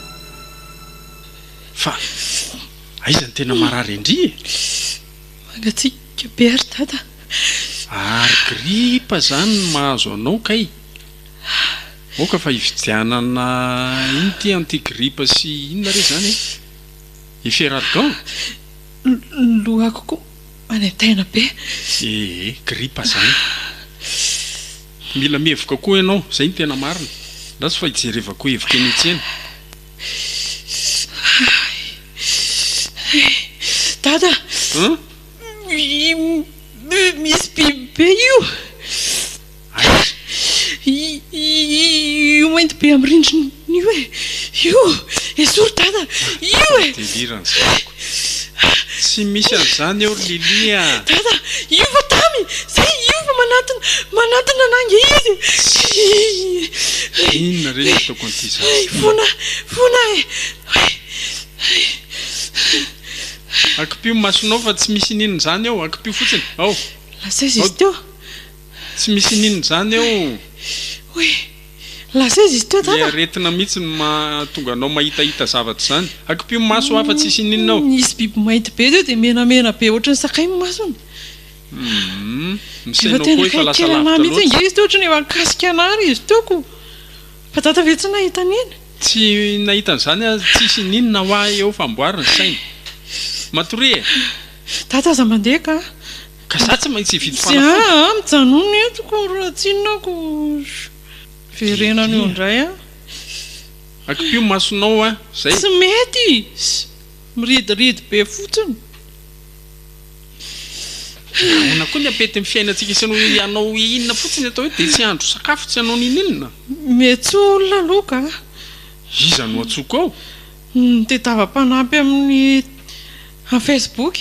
Fa aiza ny tena marary an-dry e? Mangatsiaka be ry dada. Ary gripa zany no mahazo anao kay? Aoka fa hividianana ino ty anti gripa sy inona re zany e? Efferalgan? Ny lohako koa manaintaina be. Ee, gripa zany. Mila mihevoka koa ianao, izay no tena marina. Ratsy fa ijerevako hevoka eny an-tsena. Dada, misy biby be io. Aiza? Io mainty be amin'ny rindrina io e. Io, esory Dada, io e. Delirant zandriko. Tsy misy an'izany eo ry Lily a! Dada, hiova Tamy! Zay, hiova manantona, manantona anà nge izy e! Inona re ny ataoko an'ity zaza ity? Fona, fona e! Akipio ny masonao fa tsy misy ininona izany eo, akipio fotsiny, ao! Lasaiza izy teo! Tsy misy ininona izany eo! Lasa izy izy teo dada. Ilay aretina mihitsy no mahatonga anao mahitahita zavatra izany. Akipio ny maso hafa tsisy ininona ao. Nisy biby mainty be teo dia menamena be ohatry ny sakay ny masony. Hum. Ny sainao koa efa lasa lavitra loatra. Efa tena kely anah mihitsy ange izy teo ohatry ny efa nikasika anah ary izy teo ko. Fa dada ve tsy nahita an'iny? Tsy nahita an'izany aza tsisy ininona hoa eo fa amboary ny sainy. Matoria e. Dada aza mandeha ka. Ka za tsy maintsy hividy fanafody? Tsy aa, mijanona eto ko raha tsinona aho ko verenana eo indray a. Akipio masonao a, zay. Tsy mety izy, miridiridy be fotsiny. Nahoana koa ny ampetin'ny fiainantsika sy ny hanao inona fotsiny atao eto dia tsy handro sakafo, tsy hanao ninoninona? Mihetsoa olona aloha ka. Iza no antsoiko ao? Ny tedava mpanampy amin'ny amin'ny facebook.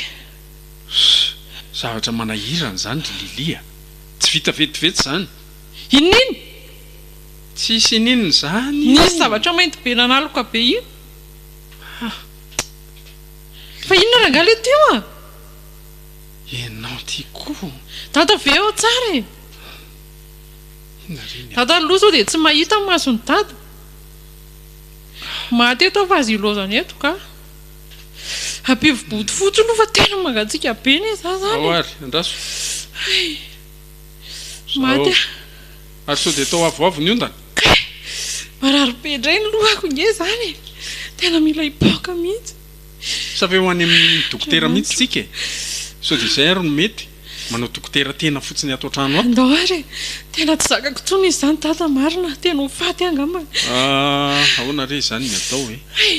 Huss! Zavatra manahirana izany ry Lily a! Tsy vita vetivety izany! Inin? Tsisy inin izany io! Nisy zavatra mainty be nanaloka be io! Hah! Lily! Fa inona rangahy ilay teo a? Ianao ity koa! Dada ve ao tsara e? Inona re ny. Dada aloha izao dia tsy mahita ny mason'i Dada! Mahatety aho fa aza ilozana eto kah! Abivo bodo fotsiny aloha fa tena mangatsiaka be anie za zany. Ao ary, andraso. Hay. Maty aho. Ary sao dia tao avoavo ny ondana? Kay! Marary be indray ny lohako nge zany e! Tena mila hipaoka mihitsy. Sa ve ho any amin'ny dokotera mihitsy tsika e? Sao dia izay ary no mety? Manao dokotera tena fotsiny ato an-trano ato. Ndao ary e! Tena tsy zakako intsony izy izany dada marina, tena ho faty aho angamba. Ahh, ahoana re izany ny atao e? Hay!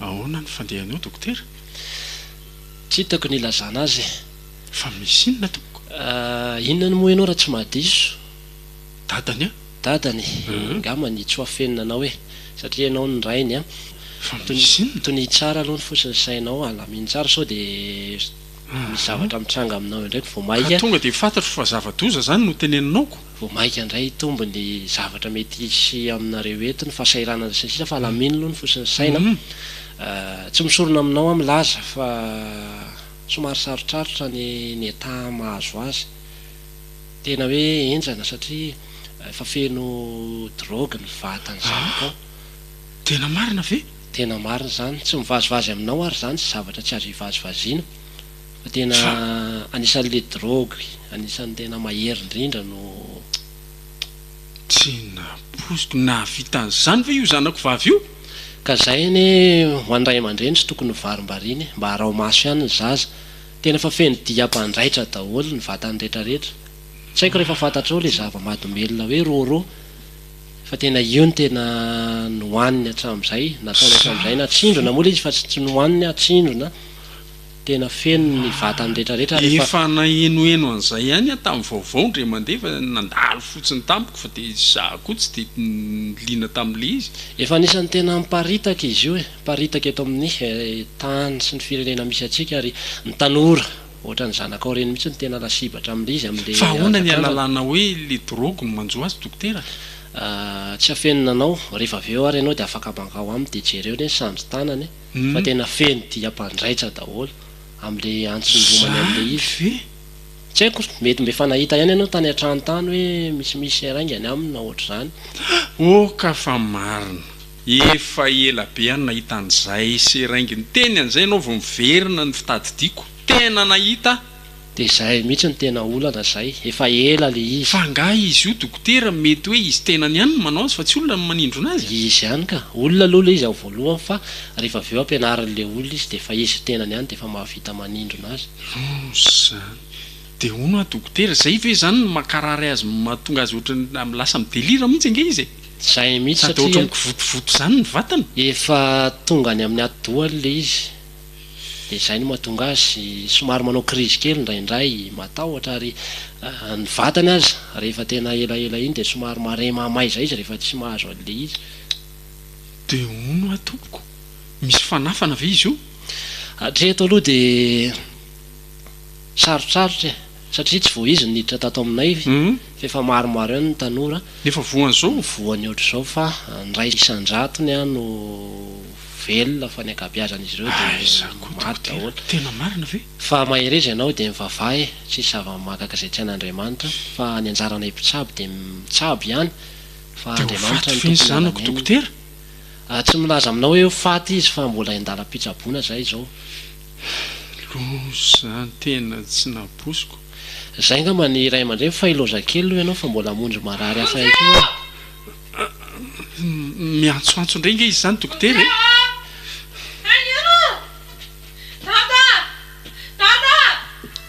Ahoana ny fandehanao dokotera? Tsy hitako ny hilazana azy. Fa misy inona tompoko? Inona no moy anao raha tsy mahadiso? dadany a! Dadany? Nga manitso afenina anao e! Satria ianao no rainy a! Fa misy inona? Tonia tsara aloha ny fo sy ny sainao, alamino tsara sao dia misy zavatra mitranga aminao eo indray vao maika, ka tonga dia fantatro fa zava-doza izany no teneninao ko! vao maika indray hitombo ny zavatra mety hisy aminareo eto, ny fahasahiranana sy ny sisa fa alamino aloha ny fo sy ny saina a! Tsy misorona aminao aho milaza fa somary sarotrarotra ny ny état mahazo azy. Tena hoe enjana satria efa feno drogue ny vatany zanaka ao. Ah! Tena marina ve? Tena marina izany. Tsy mivazivazy aminao ary izany sy zavatra tsy azo ivazivaziana. Fa tena anisan'ilay drogue anisan'ny tena mahery indrindra no. Tsy nampoiziko. Nahavita an'izany ve io zanako vavy io? Ka izay anie ho an'ny ray aman-dreny tsy tokony ho varimbariany e. Mba araho maso ihany ny zaza. Tena efa feno dia mpanjaitra daholo ny vatany retraretra. Tsy haiko refa fantatrao le zava-madomelina hoe rôrô fa tena io no tena nohaniny hatramzay, nataony hatramzay na tsindrona moa le izy fa tsy nohaniny ah, tsindrona, tena feno ny vatany retraretra ary efa. Efa nahenoheno an'izay ihany aho tamin'ny vaovao indray mandeha fa nandalo fotsiny tamiko fa dia izaho koa tsy dia liana tamin'ilay izy. Efa anisan'ny tena miparitaka izy io e. Miparitaka eto amin'ny tany sy ny firenena misy antsika ary ny tanora ohatran'ny zanakao ireny mihitsy no tena lasibatra amin'il'izy amin'ilay Fa ahoana ny hazakazany. analanao hoe le drogue no manjo azy dokotera? Tsy afenina anao, rehefa avy eo ary ianao dia afaka mankao aminy dia jereo anie ny sandry tanany fa tena feno dia mpandraitsa daholo amin'ilay antsony romany amin'ilay Zany izy. ve? Tsy haiko, mety mba efa nahita ihany ianao tany an-trano tany hoe misimisy haingana aminy na ohatr'izany. Oh ka fa marina. Efa ela be aho no nahita an'izay seringue niteny an'izay ianao vao miverina ny fitadidiako. Tena nahita aho. Dia izay mihitsy no tena olana izay. Efa ela ilay izy. Fa angaha izy io dokotera mety hoe izy tenany ihany no manao azy fa tsy olona no manindrona azy? Izy ihany ka. Olona aloha ilay izy ao voalohany fa rehefa avy eo ampianarin'ilay olona izy dia efa izy tenany ihany dia efa mahavita manindrona azy. Noho izany. Dia hono hoa dokotera, izay ve izany no mankarary azy mahatonga azy ohatran'ny lasa mi-delire mihitsy ange izy e? Izay mihitsy satria. Sady ohatran'ny mikivotovoto izany ny vatany. Efa tonga any amin'ny atidohany ilay izy, dia izay no mahatonga azy somary manao crise kely indraindray, matahotra ary ny vatany aza rehefa tena elaela iny dia somary marin mahamay izay izy rehefa tsy mahazo an'ilay izy. Dia hono hoa tompoko, misy fanafana ve izy io? Hatreto aloha dia. Sarotsarotra e! Satria tsy vao izy no niditra tato aminay fa efa maromaro ihany ny tanora no voany ohatr'izao fa ny iray isan-jatony ihany no velona fa ny ankabeazan'izy ireo dia maty daholo. Fa mahereza ianao dia mivavaha e! Tsisy zava-mahagaga izay tsy an'Andriamanitra fa ny anjaranay mpitsabo dia mitsabo ihany fa Andriamanitra no tompon'ny anan'ianona. Tsy milaza aminao hoe ho faty izy fa mbola endalam-pitsaboana izahay izao. Lozantena tsy nabosiko. Zay ngamba ny ray aman-dreny fa i lozakely aloha ianao fa mbola hamonjy marary hafa ihany koa a! Miantsoantso indray nga izy zany dokotera e! Dada! Dada! Dada!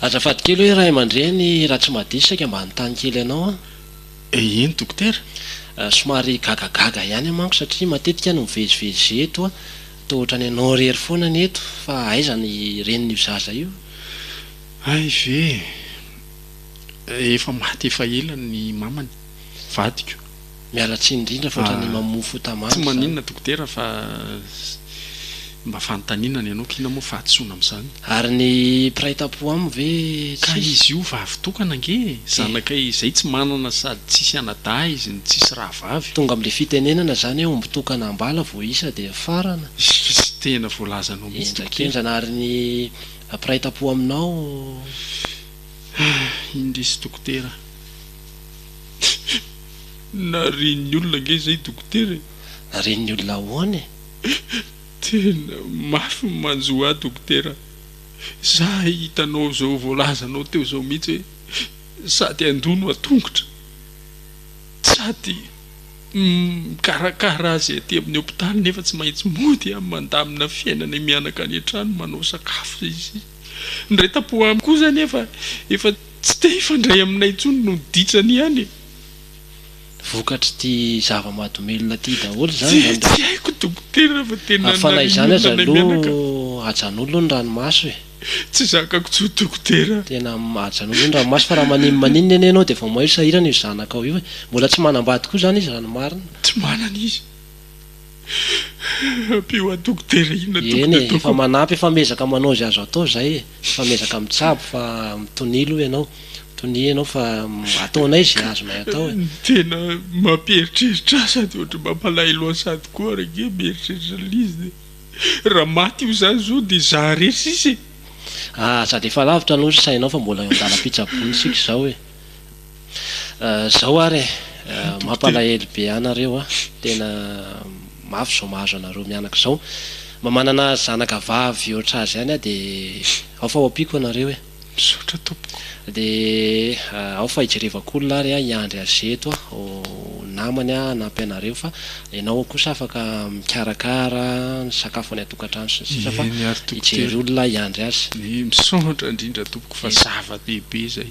Azafady kely hoe ray aman-dreny raha tsy mahadiso saika mba hanontany kely anao aho. Eh eny dokotera? Somary gagagaga ihany aho manko satria matetika no mivezivezy eto aho, toa ohatran'ny ianao irery foana ny eto, fa aiza ny renin'io zaza io? Hay ve eh! Efa maty efa ela ny mamany, vadiko. Miala tsiny indrindra fa otrany mamoa fota mandry zany. Tsy maninona dokotera fa mba fanontaniana ny anao kina moa fahadisoana amin'izany. Ary ny mpiray tampo amiko ve tsisy? Ka izy io vavy tokana ange e! Zanakay izay tsy manana sady tsisy anadahy izy no tsisy rahavavy. Tonga amin'ilay fitenenana izany hoe omby tokana am-bala vao isa dia mifarana. Izy tena voalazanao mihitsy dokotera. Henjakenjana ary ny mpiray tampo aminao. Indrisy dokotera. Narian'ny olona ange izay dokotera e! Narian'ny olona ahoana e? Tena mafy ny manjo ahy dokotera za hitanao zao voalazanao teo zao mihitsy hoe sady handoa no an-tongotra sady mikarakara azy aty amin'ny hopitaly nefa tsy maintsy mody aho mandamina fiainana mianaka any an-trano manao sakafo zay sy ny raitampo amiko kosa anefa efa Tsy te hifandray aminay intsony no ditsany ihany e! Vokatr'ity zava-mahadomelina ity daholo izany izany dia. Tsy haiko dokotera fa dia nanarin'ny olona ilay mianaka. Hafana izany aloha ajanolo ny ranomaso e! Tsy zakako intsony dokotera. Tena ajanolo ny ranomaso fa raha manin maninona anie ianao dia vao mainka sahirana io zanakao io e! Mbola tsy manambady koa izany izy raha ny marina. Tsy manana izy. Ampio an dokotera inona tompoko Eny e, efa manampy efa miezaka manao izay azo atao izay e, efa miezaka mitsabo fa mitonia aloha ianao, mitonia ianao fa ataonay izay azonay atao e. Ny tena mampieritreritra ahy sady ohatry ny mampalahelo ahy sady koa ary ange mieritreritra an'ilay izy dia raha maty io izany izao dia izaho irery sisa e. Aza dia efa lavitra aloha ny sainao fa mbola eo an-dalam-pitsaboana isika izao e. Zao ary e! Mampalahelo be anareo a! Tena mafy zao mahazo anareo mianaka zao! Mba manana zanaka vavy ohatra azy ihany aho de ao fa ho ampiako anareo e! Misaotra tompoko! De ao fa hijerevako olona ary aho hiandry azy eto a! Ho namany aho hanampy anareo fa ianao kosa afaka mikarakara ny sakafo any an-tokantrano sy ny sisa fa hijery olona aho hiandry azy! Misaotra indrindra tompoko fa zava-dehibe zay!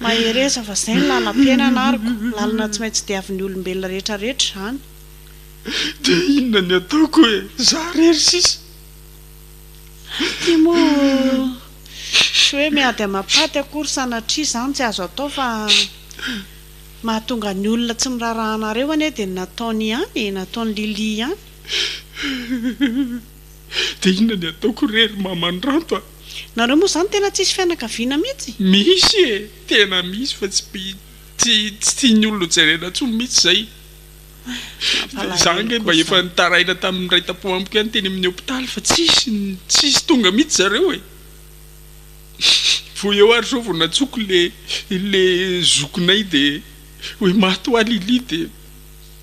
Mahereza fa zay no nanampiainana ary ko lalana tsy maintsy diavin'ny olombelona rehetra rehetra zany. De inona ny ataoko e za rery sisa. Ty moa tsy hoe miady amapaty akory sanatria zany tsy azo atao fa mahatonga ny olona tsy miraraha anareo anie de ny nataony ihany e nataony Lily ihany. Dia inona ny ataoko re ry mamanranto a! Nareo moa zany tena tsisy fianakaviana mitsy? Misy e! Tena misy fa tsy tsy tian'ny olona ho jerena tsony mitsy zay. Dia za ange mba efa nitaraina tamin'ny raitampo amiko ihany teny amin'ny hopitaly fa tsisy tsisy tonga mitsy zareo e! Vao eo ary zao vao nantsoko le le zokinay dia hoe maty hoa Lily dia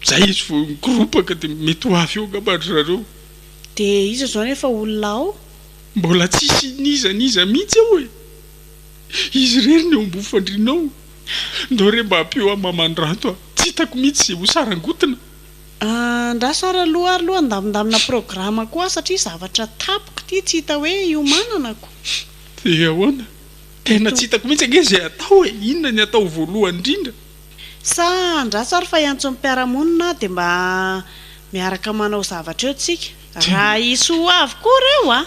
zay izy vao nikoropaka dia mety ho avy eo angamba ry zareo. Dia iza izao no efa olona ao? Mbola tsisy n'iza n'iza mihitsy ao e! Izy irery ny eo ambofandriana ao. Ndao re mba ampio ahy maman'Rato a! Tsy hitako mihitsy izay ho sarangotina. Andraso ary aloha ary aloha handamindamina programa koa aho satria zavatra tapoka ity tsy hita hoe hiomanana ko. Dia ahoana? Tena tsy hitako mihitsy ange izay atao e! Inona ny atao voalohany indrindra? Sa andraso ary fa iantso ny mpiara-monina dia mba miaraka manao zavatra eo tsika? Raha hisy ho avy koa ireo a!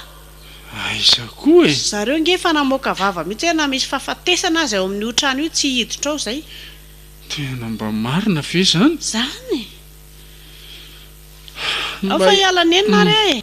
Aiza koa e! Zareo nge efa namoaka vava mihitsy hoe na misy fahafatesana aza eo amin'io trano io tsy hiditra ao izay. Tena mba marina ve izany? Izany e! Ao fa hiala nenina ary e!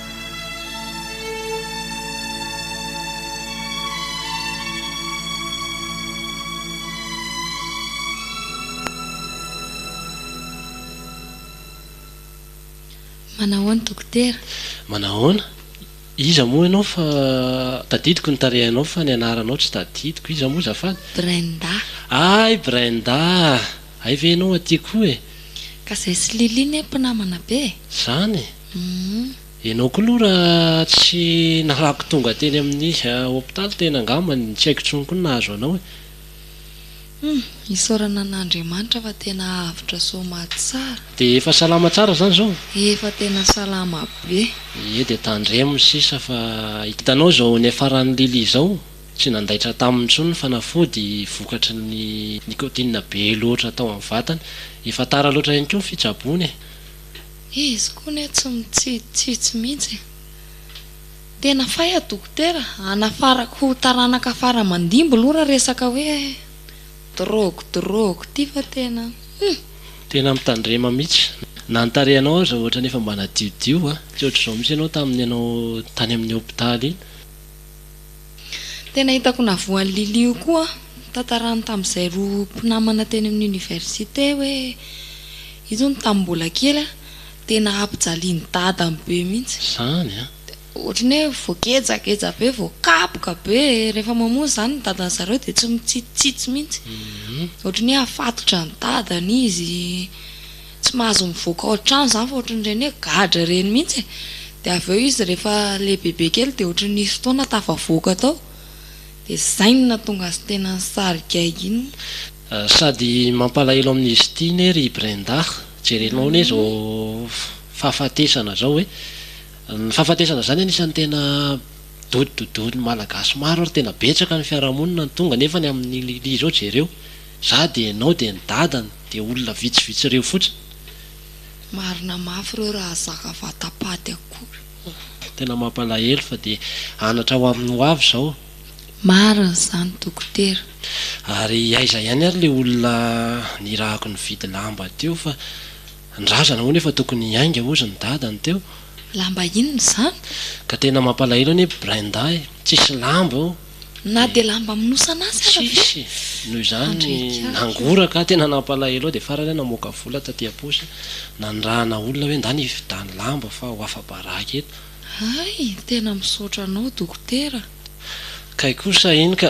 Manahoana dokotera? Manahoana? Iza moa ianao fa tadidiko ny tarehinao fa ny anaranao tsy tadidiko. Iza moa zafady? Brenda. Hay Brenda ah! Hay ve ianao aty koa e! Ka zay sy Lily ne mpinamana be e! Zany e! Humm. Ianao koa aloha raha tsy nalako tonga teny amin'ny hopitaly tena angamba ny tsy haiko intsony koa ny nahazo anao e! Humm, isaorana an'Andriamanitra fa tena avotra soma tsara. Dia efa salama tsara zany zao? Efa tena salama be. Ie dia tandremo sisa fa hitanao izao niafaran'i Lily izao. Tsy nandaitra taminy intsony ny fanafody vokatry ny nicotine be loatra tao amin'ny vatany. Efa tara loatra ihany koa ny fitsaboana e! Izy koa anie tsy mitsitsitsitsy mihitsy e! Tena fay a dokotera a! Hanafarako taranaka fara aman-dimby loha raha resaka hoe drogue drogue ity fa tena hum! Tena mitandrema mihitsy. Na ny tarehinao aza ohatrany efa mba nadiodio a! Tsy ohatr'izao mihitsy ianao tamin'ny ianao tany amin'ny hopitaly iny. Tena hitako navoa an'i Lily io koa tantarany tamin'izay roa mpinamana teny amin'ny université hoe izy hono tamin'ny mbola kely a tena ampijalian'i dadany be mihitsy Izany an! dia ohatran'ny hoe voagejageja be, voakapoka be e! rehefa mamonjy izany ny dadan'i zareo dia tsy mitsitsitsitsy mihitsy, ohatran'ny hoe afatotra ny dadany izy, Tsy mahazo mivoaka ao an-trano izany fa ohatran'ny ireny hoe gadra ireny mihitsy e. Dia avy eo izy rehefa lehibebe kely dia ohatran'ny nisy fotoana tafavoaka tao. Dia izay no nahatonga azy tena nisarigaika iny. Sady mampalahelo amin'izy ity ne ry Brenda. Jerenao anie izao fahafatesana izao e. Ny fahafatesana izany anisan'ny tena dodododoin'ny Malagasy maro ary tena betsaka ny fiarahamonina no tonga nefa ny amin'i Lily izao jereo. Za de enao de ny dadany de olona vitsy vitsy reo fotsiny. Marina mafy reo raha zaka vata paty akory oh. Tena mampalahelo fa dia anatra ho amin'ny ho avy izao. Marina izany dokotera. Ary aiza ihany ary le olona nirahako nividy lamba teo fa ny razana hono efa tokony hiainga hozy ny dadany teo. Lamba inona izany? Ka tena mampalahelo anie Brenda eh! Tsisy lamba oh! Na dia lamba minosana aza ary ve? Tsisy e! Noho izany nangoraka aho, tena nampalahelo aho dia farany aho namoaka vola taty am-paosy nanirahana olona hoe ndany hividiany lamba fa ho afa-baraka eto. Hay, tena misaotra anao dokotera. Kay kosa iny ka!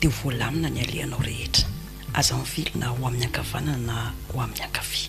dia ho voalamina ny alehanao rehetra. Aza mivily na ho amin'ny ankavanana na ho amin'ny ankavia.